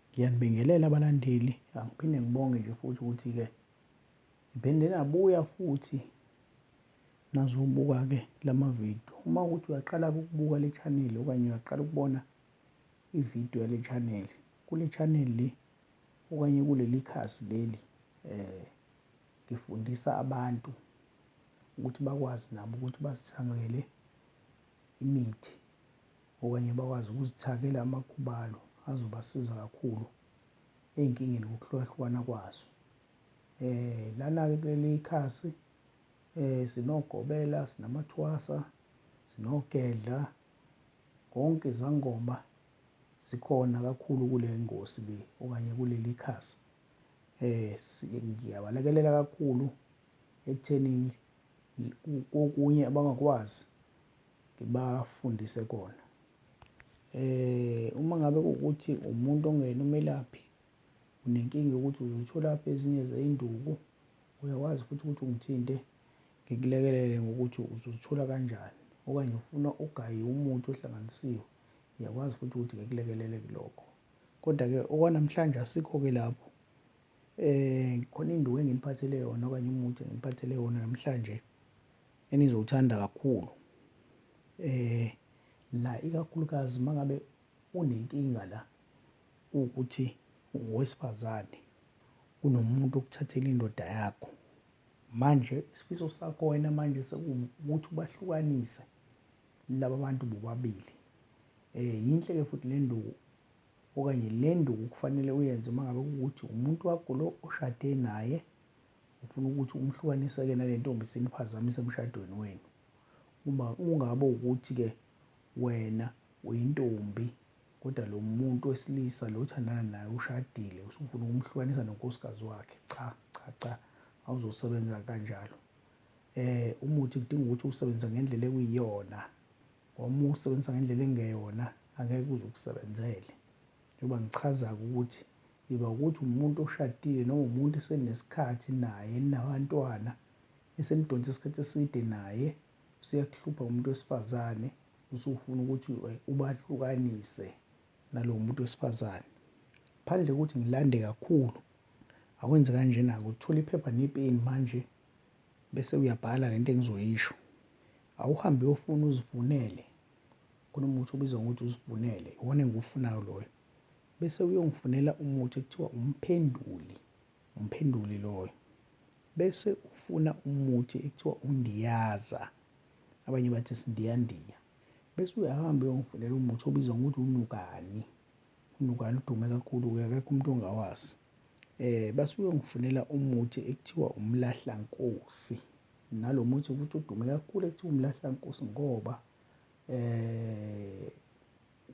Ngiyanibingelela abalandeli, angiphinde ngibonge nje futhi ukuthi-ke ngiphinde nabuya futhi nazobuka-ke la mavidiyo. Uma ukuthi uyaqala ukubuka le chaneli okanye uyaqala ukubona ividiyo yale chaneli, kule chaneli le okanye kuleli khasi leli um ngifundisa abantu ukuthi bakwazi nabo ukuthi bazithamele imithi okanye bakwazi ukuzithakela amakhubalo azobasiza kakhulu ey'nkingeni ngokuhlukahlukana kwazo. Eh lana-ke kuleli khasi eh sinogobela, sinamathwasa, sinogedla, konke izangoma sikhona kakhulu kule ngosi le okanye kuleli khasi. Eh ngiyabalekelela kakhulu ekuthenini kokunye abangakwazi ngibafundise kona eh uma ngabe ukuthi umuntu ongena umelaphi unenkinga yokuthi uzothola apha ezinye zeyinduku uyakwazi futhi ukuthi ungithinte ngikulekelele ngokuthi uzozithola kanjani okanye ufuna ugaye umuthi ohlanganisiwe ngiyakwazi futhi ukuthi ngikulekelele kulokho kodwa-ke okwanamhlanje asikho-ke lapho Eh khona induku enginiphathele yona okanye umuthi enginiphathele wona namhlanje enizowuthanda kakhulu. Eh la ikakhulukazi mangabe unenkinga la ukuthi ungowesifazane unomuntu okuthathela indoda yakho. Manje isifiso sakho wena manje sekuwukuthi ubahlukanise laba bantu bobabili. Eh yinhle ke futhi le nduku okanye le nduku kufanele uyenze uma ngabe kuwukuthi umuntu wakho lo oshade naye ufuna ukuthi umhlukanise-ke nale ntombi siniphazamise emshadweni wenu uma ungabe ukuthi-ke wena uyintombi kodwa lo muntu wesilisa lo othandana naye ushadile usufuna ukumhlukanisa nonkosikazi wakhe cha cha cha awuzosebenza kanjalo um umuthi kudinga ukuthi uwusebenzise ngendlela ekuyiyona ngoba ukusebenzisa ngendlela engeyona angeke kuze ukusebenzele njengoba ngichaza-ke ukuthi iba ukuthi umuntu oshadile noma umuntu esenesikhathi naye nabantwana esenidonsa isikhathi eside naye useyakuhlupha umuntu wesifazane usufuna ukuthi eh, ubahlukanise nalo muntu wesifazane phandle ukuthi ngilande kakhulu awenze kanjena-ke uthole iphepha nepeni manje bese uyabhala lento engizoyisho awuhambe uyofuna uzifunele kunomuthi obizwa ngokuthi uzifunele iwona engiwufunayo loyo bese uyongifunela umuthi ekuthiwa umphenduli umphenduli loyo bese ufuna umuthi ekuthiwa undiyaza abanye bathi sindiyandiya bese uyahamba uyongifunela umuthi obizwa ngokuthi unukani unukani udume kakhulu-ke akekho umuntu ongawazi Eh basuke ngifunela umuthi ekuthiwa umlahlankosi. Nalo muthi ukuthi udume kakhulu ekuthiwa umlahlankosi ngoba eh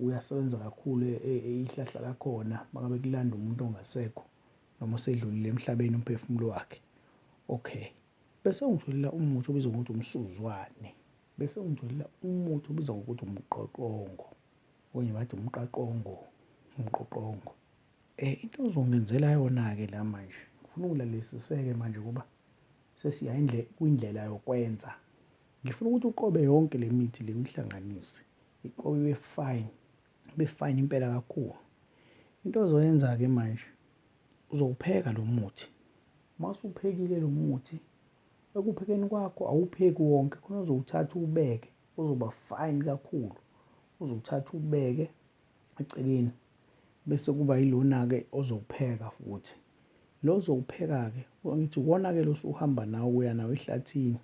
uyasebenza kakhulu e, e, e, ihlahla lakhona makabe kulanda umuntu ongasekho noma osedlulile emhlabeni umphefumulo wakhe. Okay. Bese ungitholela umuthi obizwa ngokuthi umsuzwane. Bese ungitholela umuthi obizwa ngokuthi umqoqongo. Okunye bathi umqaqongo, umqoqongo. Eh into ozongenzela yona ke la manje. Ngifuna ungilalesiseke manje kuba sesiya indle kwindlela yokwenza. Ngifuna ukuthi uqobe yonke le mithi le uyihlanganise. Iqobe ibe fine. Ibe fine impela kakhulu. Into ozoyenza ke manje uzowupheka lo muthi. Masuphekile lo muthi ekuphekeni kwakho awupheki wonke khona uzowuthatha ubeke uzoba fine kakhulu. Uzowuthatha ubeke eceleni bese kuba yilona-ke ozokupheka futhi lo ozokupheka-ke ngithi uwona-ke lo usuhamba nawo kuya nawo ehlathini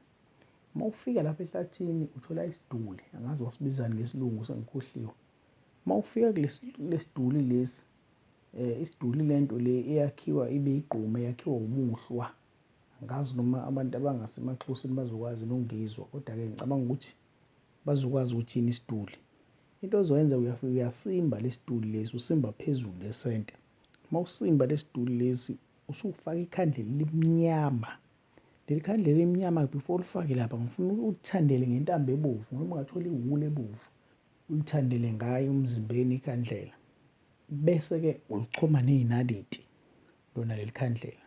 uma ufika lapha ehlathini uthola isiduli angazi wasibizani ngesilungu sengikhohliwe uma ufika kulesiduli lesi eh isiduli lento le eyakhiwa ibe igqume yakhiwa umuhlwa ngazi noma abantu abangasemaxhosini bazokwazi nongizwa kodwa-ke ngicabanga ukuthi bazokwazi ukuthi yini isiduli Into ozoyenza uyafika uyasimba lesituli lesi usimba phezulu lesente. Uma usimba lesituli lesi usufaka ikhandlela elimnyama. Leli khandlela elimnyama before ulifake lapha ngifuna ulithandele ngentambo ebovu noma ungathola iwulu ebovu ulithandele ngayo umzimbeni ikhandlela. Bese-ke ulichoma ney'naliti lona leli khandlela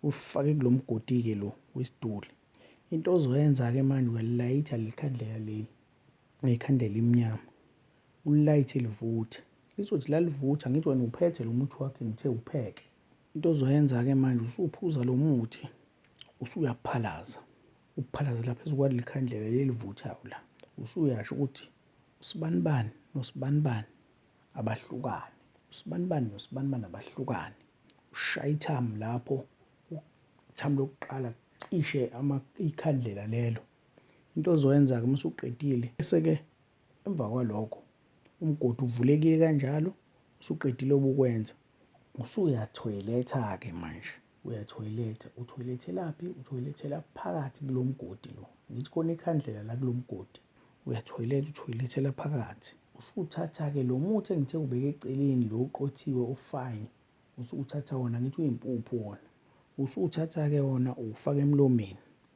ulifake kulo mgodi-ke lo wesituli. Into ozoyenza-ke manje uyalayitha leli khandlela leli Ngekhanda elimnyama ulayithe livuthe lizothi lalivutha ngithi wena uphethe lo muthi wakhe ngithe upheke into ozoyenza-ke manje usuphuza lo muthi usuyaphalaza ukuphalazela phezu kwaleli khandlela lelivuthayo la usuyasho ukuthi usibanibani nosibanibani abahlukane usibanibani nosibanibani abahlukane ushaya ithamu lapho ithamu lokuqala cishe ikhandlela lelo Into ozoyenza-ke uma usuqedile, bese-ke emva kwalokho umgodi uvulekile kanjalo, usuqedile obukwenza. Usuyathoyiletha-ke manje, uyathoyiletha. Uthoyilethelaphi? Uthoyilethela phakathi kulo mgodi lo. Ngithi khona ikhandlela la kulo mgodi. Uyathoyiletha, uthoyilethela phakathi. Usuthatha-ke lo muthi engithe ubeke eceleni lo uqothiwe ufine. Usuthatha wona, ngithi uyimpuphu wona. Usuthatha-ke wona uwufake emlomeni.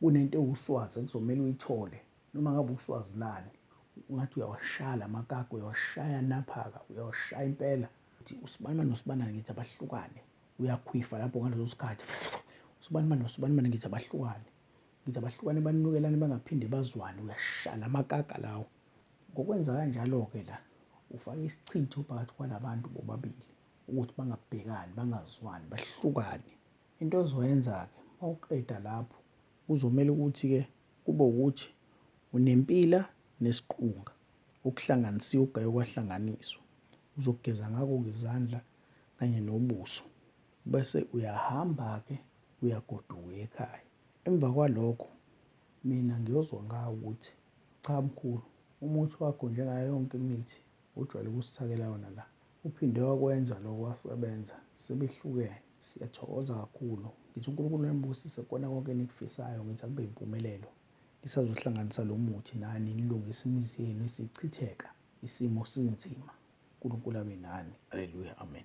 kunento ewuswazi ekuzomele uyithole noma ngabe uswazi lani ungathi uyawashaya la makaka uyawashaya naphaka uyawashaya impela ukuthi usibani nosibani ngithi abahlukane uyakhwifa lapho ngaleso sikhathi usibani nosibani ngithi abahlukane ngithi abahlukane banukelane bangaphinde bazwane uyashaya la makaka lawo ngokwenza kanjalo-ke la ufake isichitho phakathi kwalabantu bobabili ukuthi bangabhekani bangazwani bahlukane Into ozoyenza-ke uma uqeda lapho kuzomele ukuthi-ke kube ukuthi unempila nesiqunga okuhlanganisiwe okugaye kwahlanganiswa. Uzogeza ngako-ke izandla kanye nobuso bese uyahamba-ke uyagoduka ekhaya. Emva kwalokho mina ngiyozwa ngawo ukuthi cha mkhulu umuthi wakho njengayo yonke imithi ojwayele ukusithakela yona la Uphinde wakwenza lokho wasebenza sebehlukene. Siyathokoza kakhulu. Ngithi uNkulunkulu anibusise kukona konke enikufisayo. Ngithi akube yimpumelelo. Nisazohlanganisa lo muthi nani nilungise imizi yenu isichitheka. Isimo sinzima. uNkulunkulu abe nani. Haleluya. Amen.